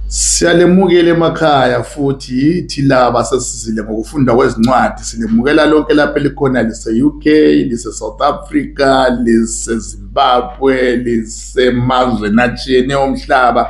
Siyalemukela emakhaya futhi yithi laba sesizile ngokufunda kwezincwadi silemukela lonke lapho elikhona lise-UK lise-South Africa lise-Zimbabwe lisemazweni atshiyene omhlaba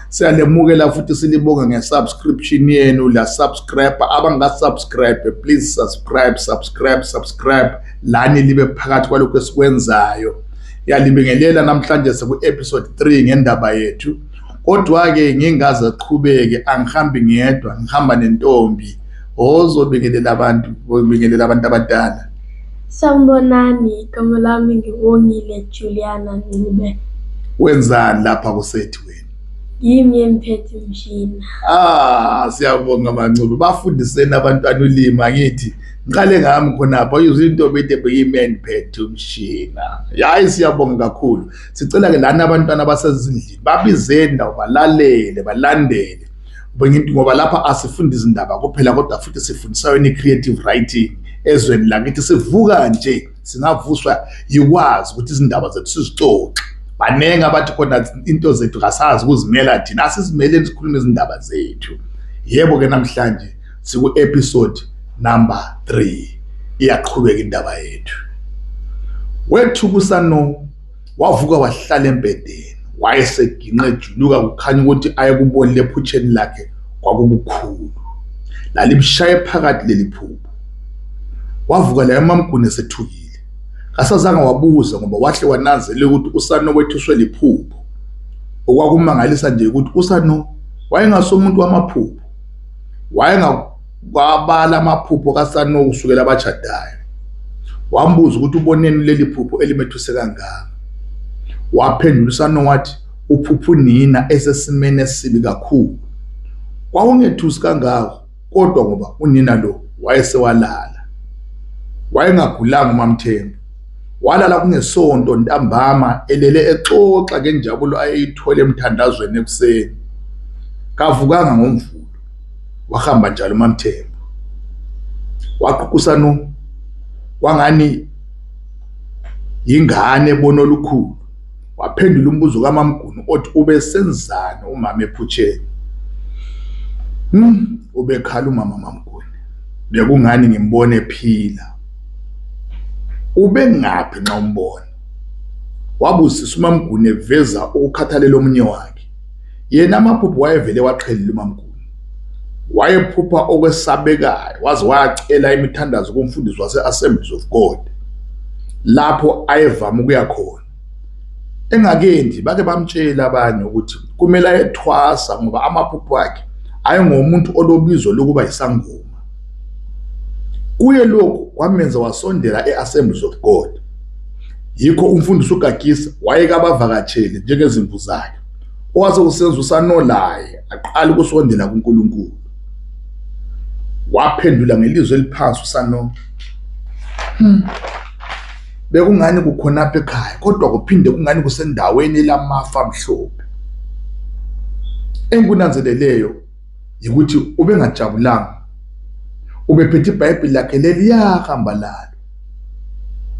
siyalemukela futhi silibonge nge-subscription yenu la subscribe abanga-subscribe please subscribe subscribe subscribe lani libe phakathi kwalokhu esikwenzayo Yalibingelela namhlanje siku episode 3 ngendaba yethu. Kodwa ke ngingaze qhubeke angihambi ngedwa ngihamba nentombi ozobingelela abantu obingelela abantu abadala. Sanibonani igama lami ngiwongile Juliana Ncube. Wenzani lapha kusethi wena? Yimi emphethe umshini. Ah siyabonga mancube bafundiseni abantwana ulimi angithi ngiqale ngami khonapho izintombi ede beyimen phethe umshina yayi siyabonga kakhulu sicela ke lana abantwana basezindlini babizeni ndawo balalele balandele ngoba lapha asifundi izindaba kuphela kodwa futhi sifundisa yona i-creative writing ezweni lakithi sivuka nje singavuswa yikwazi ukuthi izindaba zethu sizixoxe baningi abathi khona into zethu kasazi ukuzimela thina asizimeleni sikhulume izindaba zethu yebo-ke namhlanje siku episode number 3 iyaqhubeka indaba yethu wethu kusano wavuka wahlala embedeni wayeseginqe ejuluka kukhanya ukuthi ayekubonile ephutsheni lakhe kwakukukhulu lalimshaye phakathi leli phupho wavuka la emamguni esethukile kasazange wabuza ngoba wahle wananzela ukuthi usano wethuswe liphupho okwakumangalisa nje ukuthi usano wayengasomuntu wamaphupho Wayengakwabala amaphupho kaSanoku kusukela abashadayo. Wambuza ukuthi uboneni leli phupho elimethuse kangaka. Waphendula uSanoku wathi uphupha unina esesimeni esibi kakhulu. Kwakungethusi kangako kodwa ngoba unina lo wayesewalala. Wayengagulanga uMamthembu. Walala kungesonto ntambama elele exoxa ngenjabulo ayeyithola emthandazweni ekuseni. Kavukanga ngomvulo wahamba njalo uMamthembu waququsana kwangani yingane ebona olukhulu waphendula umbuzo kaMamguni othi ubesenzani umama ephutsheni hmm. Ubekhala umama Mamguni. Bekungani ngimbona ephila. Ubengaphi nxa umbona? Wabusisa uMamguni eveza ukukhathalela omunye wakhe. Yena amaphupho wayevele waqhelile uMamguni. Wayephupha okwesabekayo waze wayacela imithandazo kumfundisi wase-Assemblies of God lapho ayevama ukuya khona. Engakendi bake bamtshela abanye ukuthi kumele ayethwasa ngoba amaphupho akhe ayengomuntu olobizo lokuba yisangoma. Kuye lokhu kwamenza wasondela e-Assemblies of God. Yikho umfundisi uGagisa wayeke abavakatsheli njengezimvu zakhe. Owase usenza usanolaye aqala ukusondela kuNkulunkulu. Waphendula ngelizwi eliphansi uSanola. Hmm. Bekungani kukhonapha ekhaya kodwa kuphinde kungani kusendaweni lamafa mhlophe. Engikunanzeleleyo yikuthi ubengajabulanga. Ubephethe iBhayibheli lakhe leliya hamba lalo.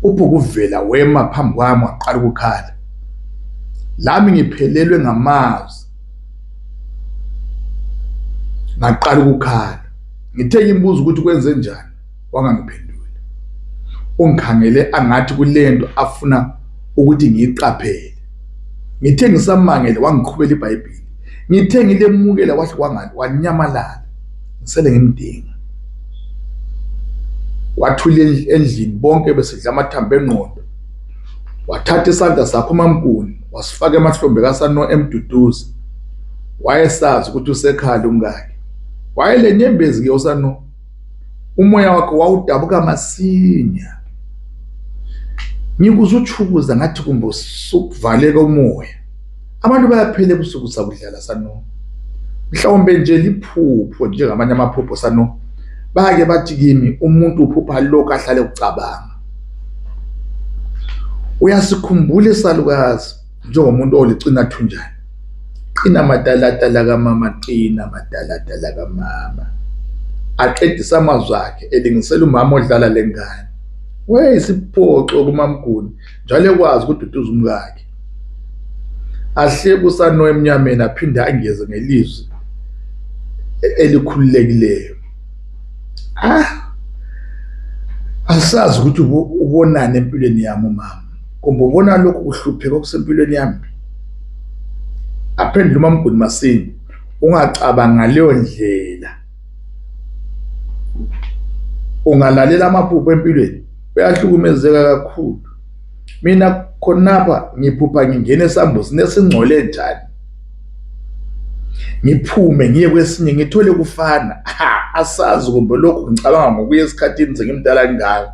Uphokuvela wema phambi kwami waqala ukukhala. Lami ngiphelelwe ngamazwi. Ngaqala ukukhala. Ngithe ngimbuza ukuthi kwenze njani. wangangiphenduli ungikhangele angathi kulento afuna ukuthi ngiyiqaphele ngithe ngisamangele wangiqhubela ibhayibheli ngithe ngilemukela wahle wangani wanyamalala ngisele ngimdinga wathula endlini bonke besidla amathambo engqondo wathatha isandla sakho mamkuni wasifaka emahlombe kasano emduduzi wayesazi ukuthi usekhala umkakhe wayelenyembezi ke usano umoya wakhe wawudabuka masinya ngikuze utshukuza ngathi kumbe usukuvaleka umoya abantu bayaphela ebusuku sakudlala sano mhlawumbe nje liphupho njengamanye amaphupho sano bake bathi kimi umuntu uphupha lokho ahlale ukucabanga uyasikhumbula isalukazi njengomuntu olicina thunjana qina matalatala kamama qina matalatala kamama aqedisa amazwi akhe elingisela umama odlala lengane wayeyisiphoxo kumamguni njalo ekwazi ukududuza umkakhe ahleke usano emnyameni aphinde angeze ngelizwi elikhululekileyo ah asazi ukuthi ubonani empilweni yami umama kumbe ubona lokhu kuhlupheka okusempilweni yami aphendula umamguni masini ungacabanga ngaleyo ndlela ungalalela amaphupho empilweni uyahlukumezeka kakhulu mina khonapha ngiphupha ngingena esambuzini esingcole njani ngiphume ngiye kwesinye ngithole kufana asazi kumbe lokhu ngicabanga ngokuya esikhathini sengimdala kangaka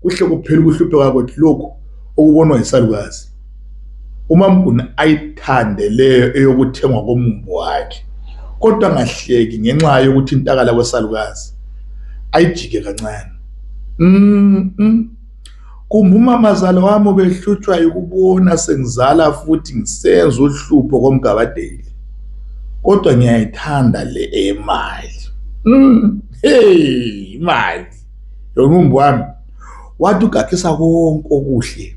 kuhle kuphela ukuhlupheka kwethu lokhu okubonwa yisalukazi umamguni ayithande leyo eyokuthengwa komumbu wakhe kodwa angahleki ngenxa yokuthi intakala kwesalukazi ayijike kancane mm -mm. kumbe umamazala wami ubehlutshwa yikubona sengizala futhi ngisenza uhlupho komgabadeli kodwa ngiyayithanda le eyemali mm. hey imali yomumbu wami wathi ugagisa konke okuhle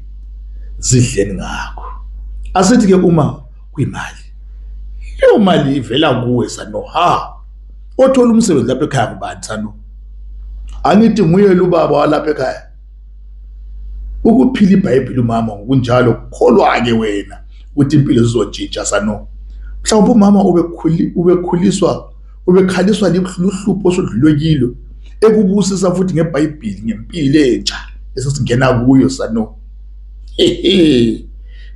zidleni ngakho asithi-ke uma kwimali leyo mali ivela kuwe sano ha othola umsebenzi lapha ekhaya ngubani sano angithi nguye lubaba walapha ekhaya ukuphila ibhayibheli umama ngokunjalo kukholwa-ke wena ukuthi impilo zizontshintsha sano mhlawumbe umama ubekhuliswa ubekhaliswa luhlupho osoludlulwe kilo ekubusisa futhi ngebhayibhili ngempilo entsha esesingena kuyo sano hehe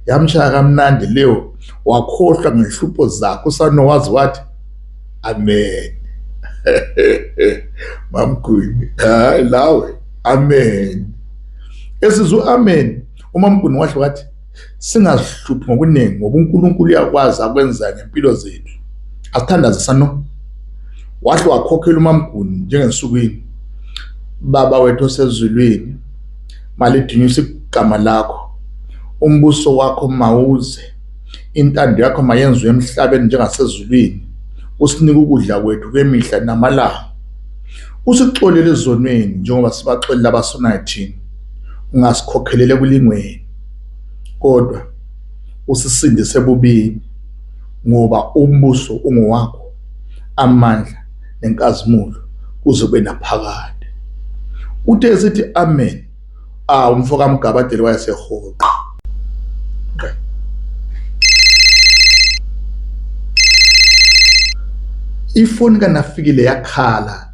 yamshaya kamnandi leyo wakhohlwa ngehlupho zakho usano wazi wathi amen mamgwini hayi lawe amen esizwe amen umamgwini wahle wathi singazihluphi ngokuningi ngoba uNkulunkulu uyakwazi akwenzayo ngempilo zethu asithandaze sano wahle wakhokhela umamguni njengensukwini baba wethu osezulwini malidunyisa igama lakho umbuso wakho mawuze intando yakho mayenziwe emhlabeni njengasezulwini usinike ukudla kwethu kwemihla namalanga usixolele ezonweni njengoba sibaxolela abasonayo thina ungasikhokhele ekulingweni kodwa usisindise ebubini ngoba umbuso ungowakho, amandla nenkazimulo kuzobe naphakade. Uthe esithi amen ah umfo kaMgabadeli wayesehoqa. Ifoni kaNafikile yakhala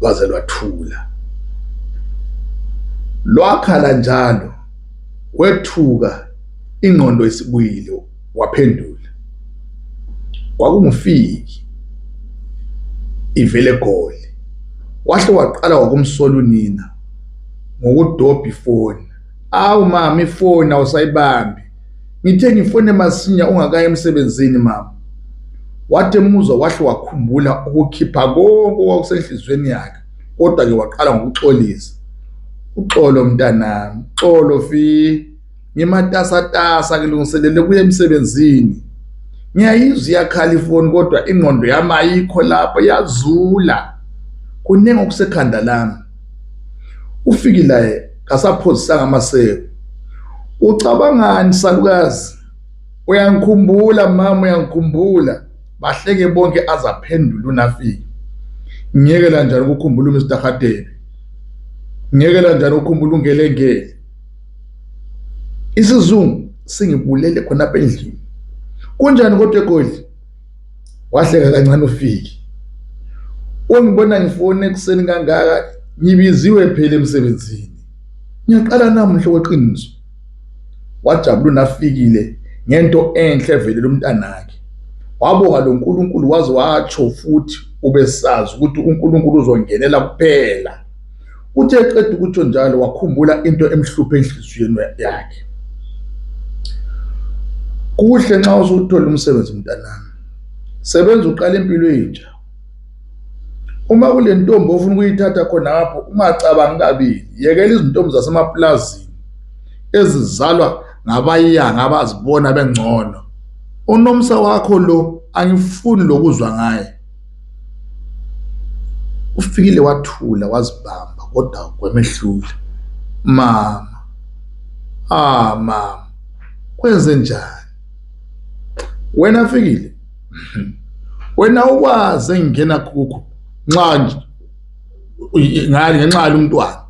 lwaze lwathula lwakhala njalo kwethuka ingqondo isibuyile waphendula kwakungufiki ivele goli wahle waqala wakumsola unina ngokudobha ifoni awu mama ifoni awusayibambi ngithe ngifone masinya ungakaye emsebenzini mama wathi emuzwa wahle wakhumbula ukukhipha konke okwakusenhliziyweni yakhe kodwa-ke waqala ngokuxolisa uxolo mntanami uxolo fi ngimatasatasa ngilungiselele kuye emsebenzini ngiyayizwa iyakhala ifoni kodwa ingqondo yami ayikho lapho yazula kuningi okusekhanda lami uFikilaye kasaphozisanga amaseko ucabangani salukazi uyangikhumbula mama uyangikhumbula bahleke bonke azaphendula unafiki ngeke lanjani ukukhumbula uMr Hadebe ngeke lanjani ukukhumbula ungelengeli isizungu singibulele khona apha endlini kunjani kodwa egodli wahleka kancane ufiki ungibona ngifone ekuseni kangaka ngibiziwe phela emsebenzini ngiyaqala namuhla kweqiniso wajabula nafikile ngento enhle vele lomntanakhe wabonga lo Nkulunkulu waze watsho futhi ubesazi ukuthi uNkulunkulu uzongenela kuphela Uthe eqeda ukutsho njalo wakhumbula into emhluphe enhliziyweni yakhe. Kuhle nxa usuthola umsebenzi mntanami. Sebenza uqala impilo entsha. Uma kule ntombi ofuna ukuyithatha khonapho ungacabangi kabili, yekela izintombi zasemapulazini ezizalwa ngabayanga abazibona bengcono. Unomsa wakho lo angifuni lokuzwa ngaye. uFikile wathula wazibamba kodwa kwemehlule mama ah mama kwenze njani wena Fikile wena ukwazi engingena kukho nxa nje ngani ngenxa yomntwana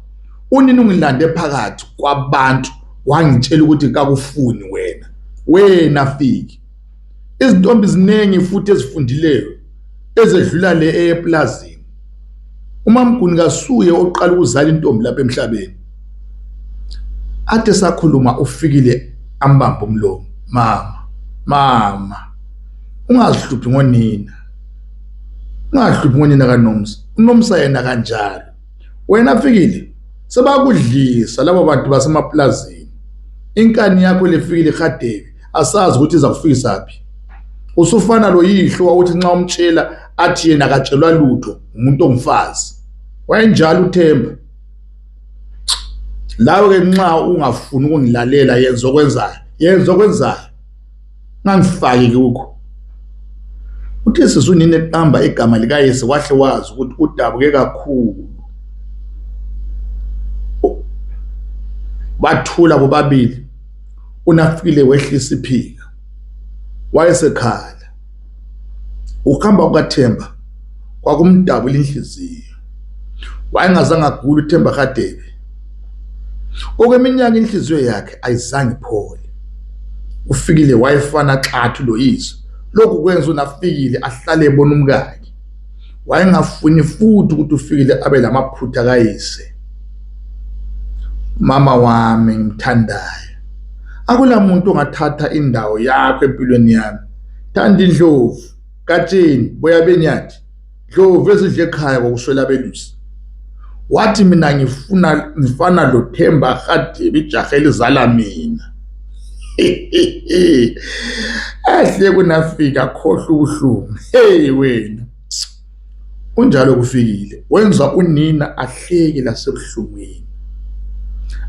unini ungilande phakathi kwabantu wangitshela ukuthi kakufuni wena wena fiki Izintombi ziningi futhi ezifundileyo ezedlula le eyeplazini. UMamGuni kasuye oqala ukuzala intombi lapha emhlabeni. Athe sakhuluma uFikile ambamba umlomo. Mama, mama, ungazihluphi ngonina. Ungazihluphi ngonina kaNomsa. UNomsa yena kanjalo. Wena Fikile, sebakudlisa laba bantu basemaplazini. Inkani yakho lefikile ihadebi. asazi ukuthi iza kufisa phi usufana lo yihlo wawuthi nxa umtshela athi yena akatshelwa lutho umuntu ongumfazi wayenjalo uthemba lawe ke nxa ungafuni ukungilalela yenza okwenzayo yenza okwenzayo ngangifaki kukho uthe sisi unini eqamba igama likayise wahle wazi ukuthi udabuke kakhulu bathula bobabili uNafile wehlisa iphika wayesekhala ukuhamba kukaThemba kwakumdabula inhliziyo wayengazange agule uThemba kaDebe okweminyaka inhliziyo yakhe ayizange iphole ufikile wayefana xathu loyiso lokhu kwenza uNafikile ahlale ebona umkakhe wayengafuni futhi ukuthi uFikile abe lamaphutha kayise mama wami ngimthandayo akula muntu ongathatha indawo yakho empilweni yami thanda indlovu katsheni boya benyathi ndlovu ezidle ekhaya ngokuswela belusi wathi mina ngifuna ngifana lo Themba Khadibi ijaha elizala mina ahle kunafika khohle ubuhlungu hey wena unjalo kufikile wenza unina ahleke lasebuhlungwini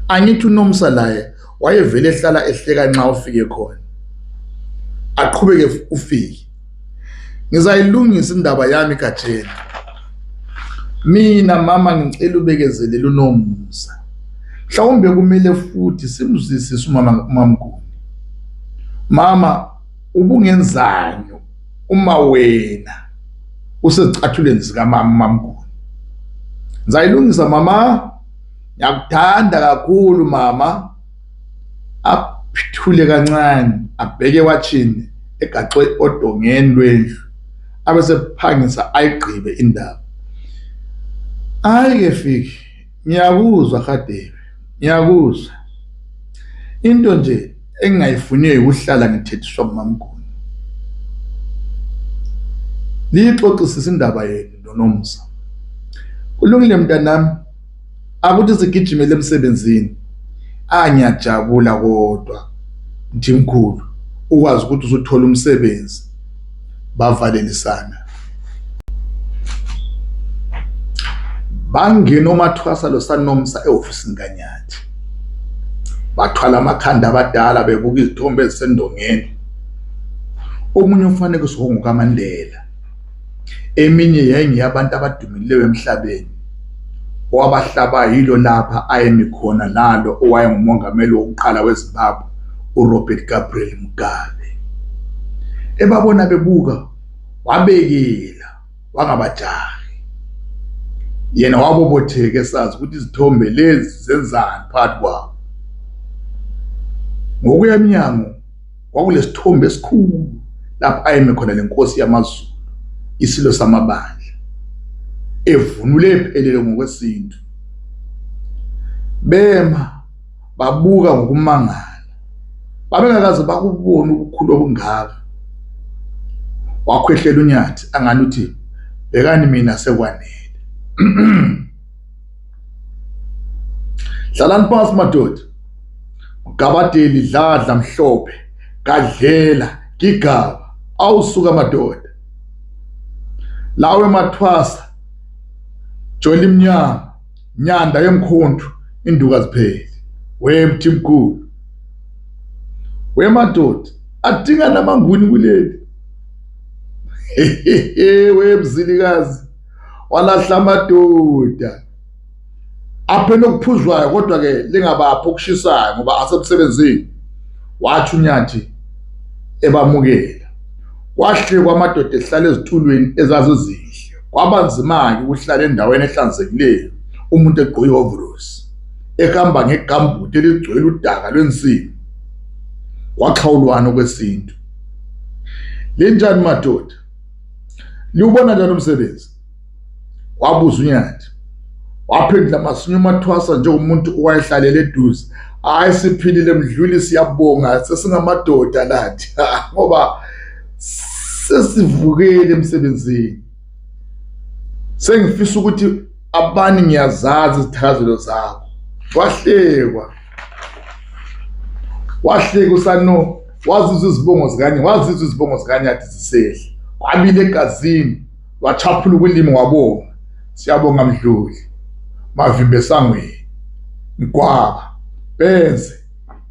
angithi unomsa laye wayevele ehlala ehleka nxa ufike khona aqhubeke ufike Ngizayilungisa indaba yami kajeni. Mina mama ngicela ubekezelele unomusa. Mhlawumbe kumele futhi simzwisise umama umamguni. Mama ubungenzani uma wena usezicathuleni zikamama mamguni. Ngizayilungisa mama. Ngiyakuthanda kakhulu mama. athule kancane abheke ewatshini egaxwe odongeni lwendlu abesephangisa ayigqibe indaba. Hhayi-ke Fiki, ngiyakuzwa Hadebe, ngiyakuzwa. Into nje engingayifuniyo yikuhlala ngithethiswa ngumamkhulu. Liyixoxisise indaba yenu noNomsa. Kulungile mntanami. akuthi sigijimele emsebenzini angiyajabula kodwa Mthimkhulu ukwazi ukuthi usuthola umsebenzi bavalelisana bangena omathwasa lo sanomsa ehofisini kanyathi bathwala amakhanda abadala bebuka izithombe ezisendongeni omunye umfanekiso wongukaMandela Eminye yayingeyabantu abadumileyo emhlabeni. Owabahlabayo yilo lapha ayemi khona nalo owayengumongameli wokuqala weZimbabwe uRobert Gabriel Mugabe. Ebabona bebuka wabekela wangabajahi. Yena wabobotheke sazi ukuthi izithombe lezi zenzani phakathi kwabo. Ngokuya emnyango kwakunesithombe esikhulu lapho ayeme khona lenkosi yamaZulu isilo samabandla evunule ephelele ngokwesintu bema babuka ngokumangala babengakaze bakubona ubukhulu obungaka wakhwehlela unyathi angani uthi bekani mina sekwanele Hlalani phansi madoda. Ugabadeli dladla mhlophe kadlela gigaba awusuka madoda. Lawe mathwasa joli mnyama nyanda yemkhontu induka zipheli. We mthimkhulu. We madoda adinga namanguni kuleli. We mzilikazi walahla amadoda aphela okuphuzwayo kodwa-ke lingabaphi okushisayo ngoba asemsebenzini wathi unyathi ebamukela kwahle kwamadoda ehlala ezitulweni ezazizinhle kwaba nzima-ke ukuhlala endaweni ehlanzekileyo umuntu egqoke ihovorosi ehamba ngegambuti eligcwele udaka lwensimbi kwaxhawulwana okwesintu linjani madoda liwubona njani umsebenzi wabuza unyati waphendula masinya umathwasa njengomuntu owayehlalele eduze hayi siphilile mdluli siyabonga sesingamadoda lathi ngoba sesivukele emsebenzini sengifisa ukuthi abani ngiyazazi izithakazelo zakho wahlekwa wahleka usano wazizwa izibongo zikanye wazizwa izibongo zikanyathi zisehla kwabile egazini wachaphula ukulimi wabonga siyabonga mdluli mavimbe esangweni mgwaba benze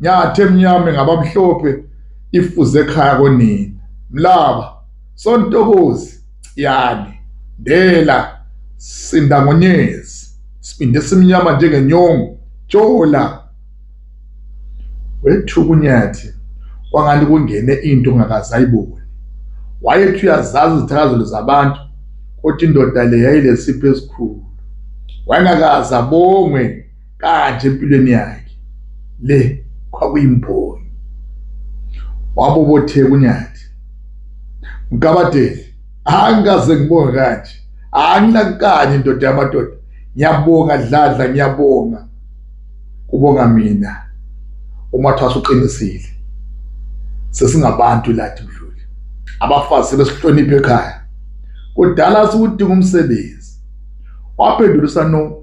nyathi emnyame ngabamhlophe ifuze ekhaya konina mlaba sontokozi Ciyane, Ndela, Sindangonyezi, Sibindi esimnyama njengenyongo, Jola. Wethuka uNyathi kwangani kungene into ongakaze ayibone. Wayethi uyazazi izithakazelo zabantu kodwa indoda le yayilesipho esikhulu. Wayengakaze abongwe kade empilweni yakhe le kwakuyimboni wabobotheka unyathi mgabadeli angikaze ngibonge kanje anginakukanye indoda yamadoda ngiyabonga dladla ngiyabonga kubonga mina uma thwasa uqinisile sesingabantu lathi mdluli abafazi besihloniphe ekhaya kudala siwudinga umsebenzi waphendula usano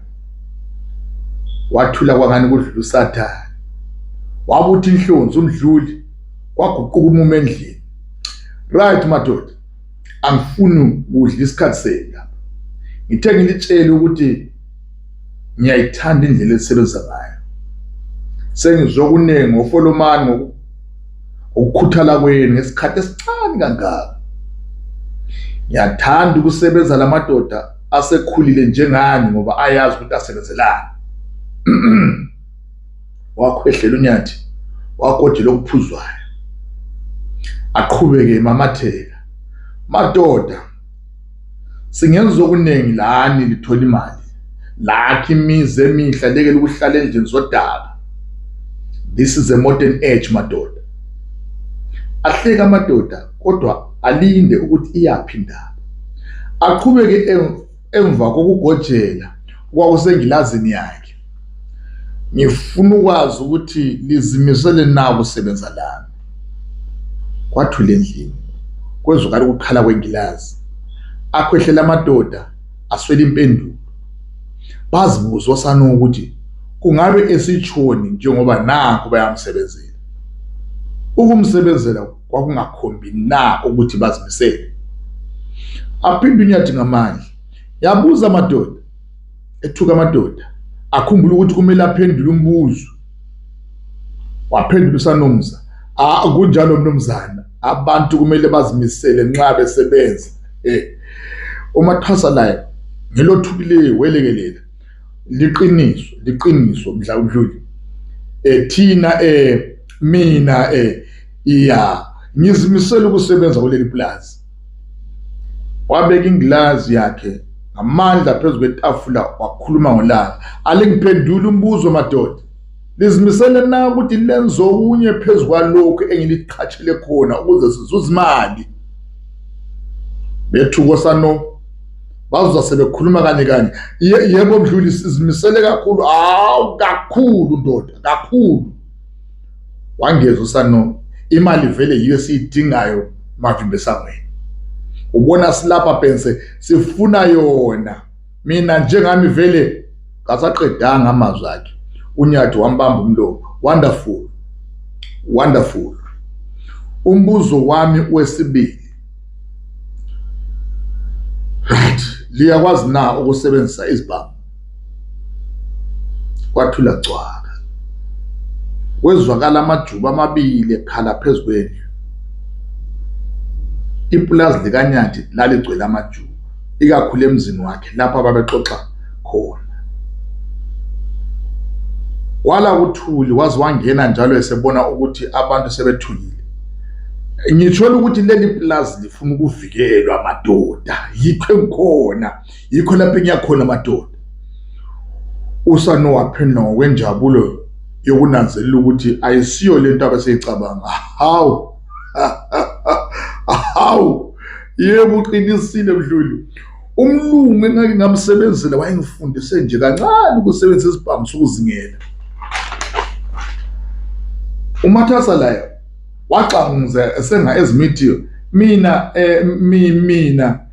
wathula kwangani kudlula usathane wabuthi inhlonzi umdluli kwaguquka umume endlini right madoda angifuni ukudla isikhathi senu lapha ngithe ngilitshele ukuthi ngiyayithanda indlela elisebenzisa ngayo sengizwe okuningi ngofolomani ngokukhuthala kwenu ngesikhathi esincane kangaka ngiyathanda ukusebenza lamadoda asekhulile njengani ngoba ayazi ukuthi asebenzelani wakhwehlela unyathi wagodela okuphuzwayo aqhubeke emamatheka madoda singenza okuningi lani lithola imali lakhe imizi emihle lekele ukuhlala endlini zodaba this is a modern age madoda ahleka amadoda kodwa alinde ukuthi iyaphi indaba aqhubeke emva kokugojela kwakusengilazini yakhe ngifuna ukwazi ukuthi lizimisele na ukusebenza lami kwathula endlini kwezwakala ukukhala kwengilazi akhwehlela amadoda aswela impendulo bazibuza osana ukuthi kungabe esitshoni njengoba nakho bayamsebenzela ukumsebenzela kwakungakhombi na ukuthi bazimisele aphinde unyadinga amandla yabuza amadoda ethuka amadoda akhumbula ukuthi kumele aphendule umbuzo waphendula usanomza akunjalo mnumzana abantu kumele bazimisele nxa besebenza eh umathasa laye ngelothukileyo welekelela liqiniso liqiniso mdla udluli eh thina eh mina eh ya ngizimisele ukusebenza kuleli pulazi wabeka ingilazi yakhe ngamandla phezu kwetafula wakhuluma ngolaka alingiphendula umbuzo madoda lizimisele na ukuthi lenze okunye phezu kwalokhu engiliqhatshele khona ukuze sizuze imali bethuko sano bazoza sebekhuluma kanye kanye yebo mdluli sizimisele kakhulu hawu kakhulu ndoda kakhulu Wangeza uSanomi, imali vele yiyo esiyidingayo Mavimba esangweni. Ubona silapha Pense sifuna yona. Mina njengami vele ngasaqedanga amazwi akhe. UNyathi wambamba umlomo. Wonderful. Wonderful. Umbuzo wami wesibili. Right. Liyakwazi na ukusebenzisa izibhamu? kwathula cwaka kwezwakala amajuba amabili ekhala phezu kwendlu ipulazi likanyathi laligcwele amajuba ikakhulu emzini wakhe lapho ababexoxa khona wala kuthuli waze wangena njalo esebona ukuthi abantu sebethulile ngithola ukuthi leli pulazi lifuna ukuvikelwa madoda yikho engikhona yikho lapho engiya khona madoda usanowa phenduka ngokwenjabulo yokunanzelela ukuthi ayisiyo lento abeseyicabanga hawu hawu yebo uqinisile mdluli umlungu engake ngamsebenzela wayengifundise nje kancane ukusebenzisa isibhamu sokuzingela umathasa layo waxanguza esenga ezimithi mina eh mina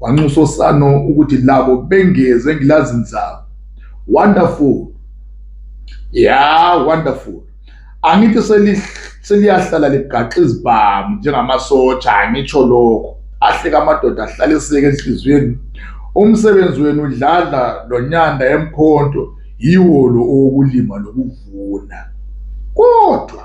wanxusa osano ukuthi labo bengeze ngilazi nzaba wonderful ya wonderful angithi seliyahlala ligaxa izibhamu njengamasotsha angitsho lokho ahleka amadoda ahlaliseke enhliziyweni umsebenzi wenu udlala lonyanda emkhonto yiwo lo okulima nokuvuna kodwa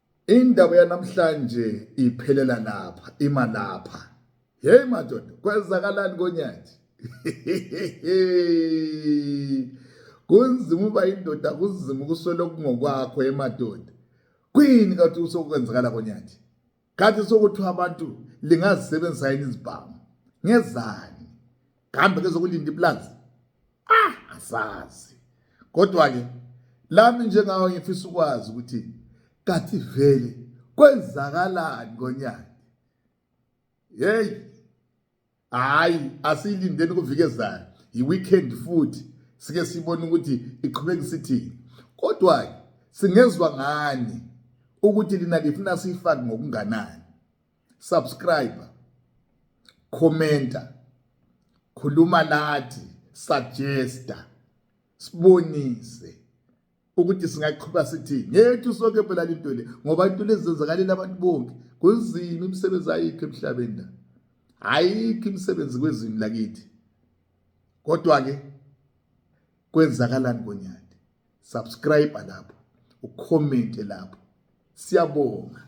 Indaba yanamhlanje iphelela lapha ima lapha hey madoda kwenzakalani konyathi kunzima uba indoda kunzima ukuswela okungokwakho emadoda kuyini kathi usokwenzakala konyathi kathi sokuthiwa abantu lingazisebenzisa yini izibhamu ngezani kambe ke zokulinda iplanzi ah asazi kodwa ke lami njengawe ngifisa ukwazi ukuthi kathi vele kwenzakalani ngonyaka hey hayi asilindeni kuvikezayo yi-weekend futhi sike sibone ukuthi iqhubeka isithini kodwa singezwa ngani ukuthi lina lifuna siyifake ngokunganani subscribe commenta khuluma lathi suggesta sibonise ukuthi singaqhuba sithi ngethu sonke phela into le ngoba into lezenzakalela abantu bonke kunzima imisebenzi ayikho emhlabeni la ayikho imisebenzi kwezini lakithi kodwa ke kwenzakalani konyaka subscribe lapho ucomment lapho siyabonga